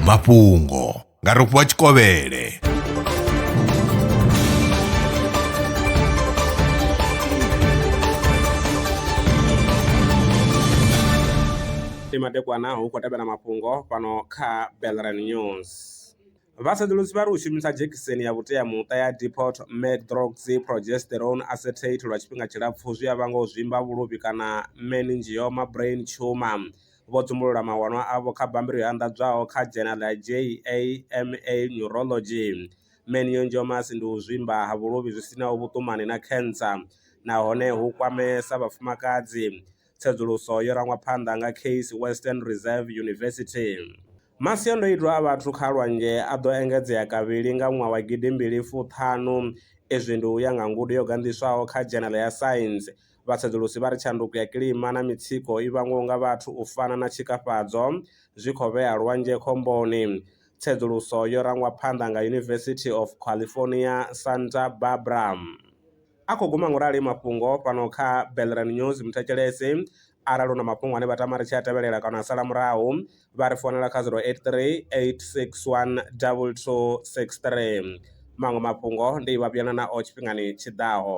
mafhungo nga rofhiwa tshikovhele ndi madekwana hu khou tevhela mafhungo fhano kha belran news vhasedzulusi vha ri u shumisa dzhekiseni ya vhuteamuṱa ya deport medroxyprogesterone acetate lwa tshifhinga tshilapfu zwi a vhanga u zwimba vhuluvhi kana meningioma brain tumor vho dzumbulula mawanwa avho kha bammbiri yo anḓadzwaho kha dzhena ḽa JAMA Neurology. Meniojomas ndi u zwimba ha vhuluvhi zwi sinaho vhuṱumani na khentsa nahone hu kwamesa vhafumakadzi. Tsedzuluso yo rangwa phanḓa nga Case Western Reserve University. Masiandoitwa a vhathu kha lwanzhe a ḓo engedzea kavhili nga ṅwaha wa gidimbili fu ṱhanu. Izwi ndi u ya nga ngudo yo ganḓiswaho kha dzhenele ya Science. Vhatsedzulusi vha ri tshanduko ya kilima na mitsiko i vhangwaho nga vhathu u fana na tshikafhadzo zwi khou vhea lwanzhe khomboni. Tsedzuluso yo rangwa phanḓa nga University of California Santa Barbara. A khou guma ngo rali mafhungo fhano kha Belran News. Muthetshelesi arali u na mafhungo ane vha tama ri tshi a tevhelela kana a sala murahu, vha ri founela kha 0838612263. Maṅwe mafhungo ndi i vha vhuyana nao tshifhingani tshi ḓaho.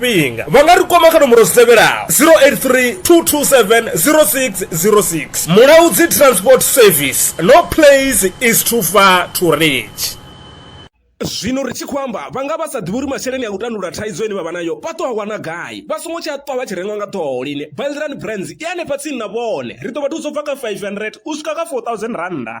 fhinga vha nga ri kwama kha nomboro dzi tevhelaho 083 227 0606 mulaudzi transport service no place is too far to reach zwino ri tshi khou amba vha nga vha sa ḓivhi uri masheleni a u tandulula thaidzo ine vha vha nayo vha ṱo a wana gai vha songo tshi a ṱwa vha tshi rengwa nga ṱhoho lini bilderani brands i hanefha tsini na vhone ri ḓo vha thusa u bva kha 500 u swika kha 4000 rannda